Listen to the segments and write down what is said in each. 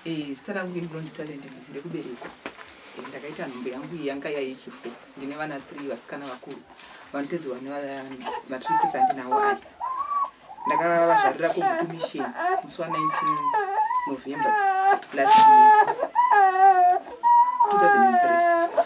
Eh, zita rangu ini Blonde Talent ndizire kuberekwa. Eh, ndakaita nhumbu yangu iyi yanga yaichifo. Ndine vana 3 vasikana vakuru. Vanotedzi vane matripets andinawo aya. Ndakavazvarira kuGutu Mission musi wa 19 November last year. 2003.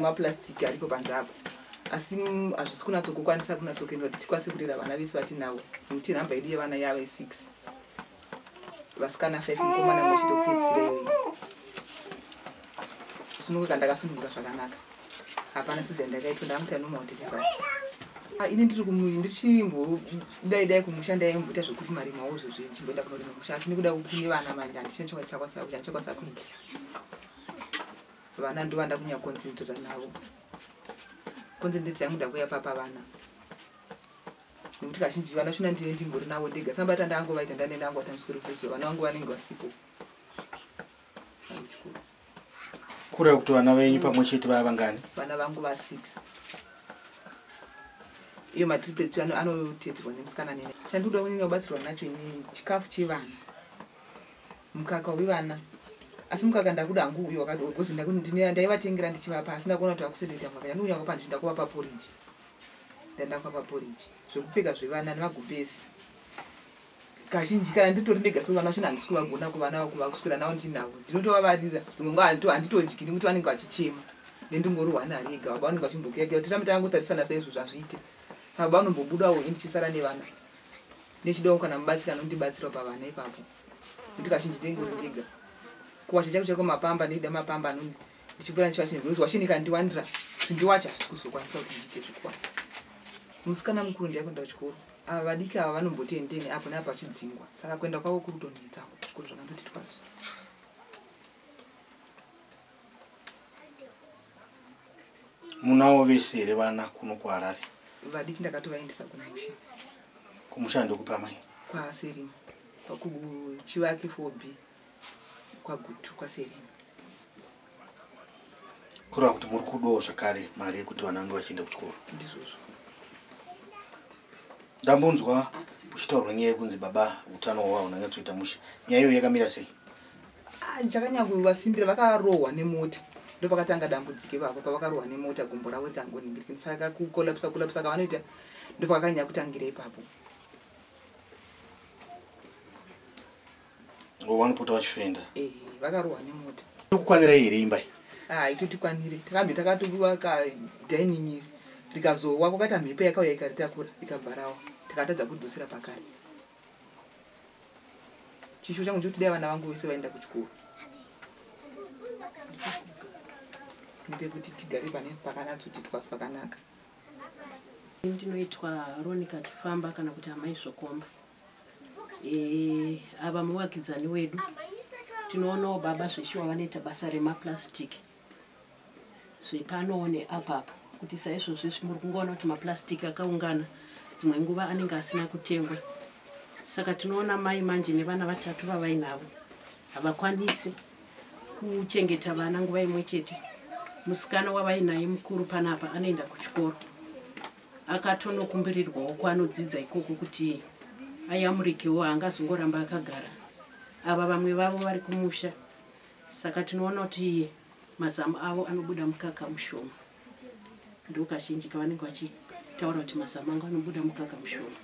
maplastic aripo panze apo asi mm, hazvisi kunatsokukwanisa kunatsokuendwa kuti tikwanise kurera vana vese vatinavo nekuti nhamba yedu yevana yava isix vasikana five mukomana mwechitopedzisirei kusununguka ndakasununguka zvakanaka hapana sizi yandakaitwa ndakamuti anoma utekeza ah, ini ndiri kumuviri ndichimbodai dai kumusha ndaimboita zvekuti mari mawo zvozvi ndichimboenda kunorima musha asi nekuda kune vana manje handichine chakwasakuti handichakwasakuti vana ndovanda kunya concentrata navo concentrate yangu ndakuya papa vana nekuti kazhinji vana shona ndine ndingori navo ndega sambata ndango vaita ndane ndango atamsweroseso vana vangu vanenge vasipo kureva kuti vana venyu pamwe chete vaya vangani vana vangu va six iyo matriplets anotedzerwa nemusikana nene chandikuda kunini kubatsirwa nacho ini chikafu chevana mukaka wevana asi mukaka ndakuda hangu uyo wakadiogozi ndaivatengera ndichivapa asi ndakuona kuti vakusendoita mukaka yandiunya kwapa ndizvi ndakuvapa poriji ndandakwapa poriji zvekupfeka zvevana nemagumbezi kazhinji kana nditori ndega so vana vachina handisi kuvagona kuvana vakuva kuswera navo ndinavo ndinotovavarira dzimwe nguva handito handitondyini kuti vanenge vachichema nendingorohwa nari ega baba vanenge vachimbokeaea kuti ramita yangotarisana saizvo zvazviite sa baba vanombobudawo ini ndichisara nevana ndichidawo kana mubatsiri anondibatsirawo pavana ipapo nekuti kazhinji ndenge uri ndiga kuwacha chako chako mapamba ndechida mapamba anoni ndichipura ndichiwacha nekuti wacha ndikandiwandira kuti ndiwacha kuzokwanisa kuti ndiite zvekuwacha musikana mukuru ndiyakuenda kuchikoro ava vadiki ava vanomboti endeni apo neapo vachidzingwa saka kuenda kwavo kurutonetsa kuchikoro zvakanzoti twazo munawo vese here vana kuno kuharare vadiki ndakatovaendesa kumusha kumusha ndokupa mai kwaserima kuchivake for b kwagutu kwaserima kureva kuti muri kudawo zvakare mari yekuti vana vange vachienda kuchikoro ndizvozvo ndambonzwa uchitaurwa nyaya yekunzi baba utano hwavo unenge toita mushe nyaya iyo yakamira sei ndichakanyakuvasimbira vakarohwa nemota ndopakatanga dambudziko ivavo pavakarohwa nemota gumbo ravo rikangoningirikini saka kukolapisa kolapisa kavanoita ndopakakanya kutangira ipapo wanopota vachifenda eh, vakarohwa nemota kukwanira here imba haitotikwanire ah, takambe takatoviwa kadining rikazowa kwakaita mhepo yakauya ikaritakura ikabvarawa takatadza kudusira pakare chishuwo changu ndikuti dai vana vangu vese vaenda kuchikoro nepekuti tigare pane pakanatsoti twasi pakanaka ndinoitwa ronika chifamba kana kuti amai zvokomba eh, ava muvakidzani wedu tinoonawo baba zveshuwa vanoita basa remaplastic e, zvepano neapapo kuti saizvozvezvi muri kungoona kuti maplastic akaungana dzimwe nguva anenge asina kutengwa saka tinoona mai manje nevana vatatu vavainavo havakwanisi kuchengeta vana nguva imwe chete musikana wavainaye mukuru panapa anoenda kuchikoro akatonokumbirirwawo kwanodzidza ikoko kuti ayamurikewo haangazongoramba akagara ava vamwe vavo vari kumusha saka tinoona kuti mazamu avo anobuda mukaka mushoma ndokazhinji kavanenge vachitaura kuti mazamu angu anobuda mukaka mushoma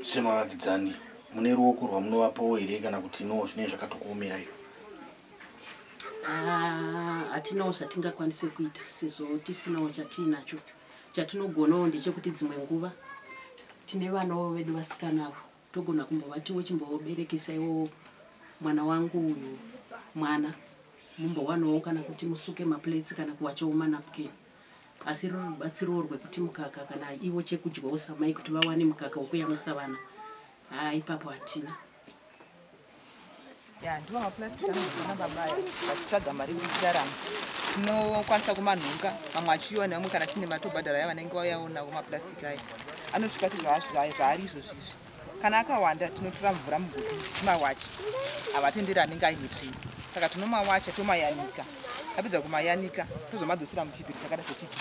semavakidzani mune ruoko rwamunovapawo here kana kuti no zvinee zvakatokuomerai ah, hatinawo zvatingakwanise kuita sezvo tisinawo chatiinacho chatinogonawo ndechekuti dzimwe nguva tine vanawo vedu vasikanavo togona kumbovatiwo chimboberekesa iwo mwana wangu uyu mwana mumbowanawo kana kuti musuke maplates kana kuwachawo manapkin asi ruri rubatsirowo rwekuti mukaka kana ivo chekudyawo samai kuti vawane mukaka wekuyamwisa vana haa ipapo hatina ya ndiwo maplastic anozona baba aya vachitsvaga mari kuitarama tinokwanisa kumanhunga mamwe achiyiwa nevamwe kana tine matobhadhara aya vanenge vayaonawo maplastic aya anosvika sezvaari izvozvo izvi kana akawanda tinotora mvura muguti tichimawacha havatenderi anenge aine tsvina saka tinomawacha tomayanika tapedza kumayanika tozomadzosera muchibhiri chakada sechiti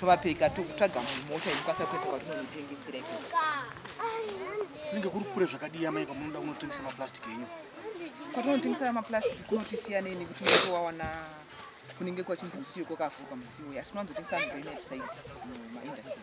tovapeka tokutsvaga mumota inokwanisa kuedza kwatinonitengesera ikoko kunenge kuri kure zvakadii amai kwamunoda kunotengesa maplastic enyu kwatinotengesera maplastic kunotisiyanei nekuti unenge wawana kunenge kwachinzi musiwo kwakavhurwa musiwo asi unowanzotengesa mugoinetside mumaindastry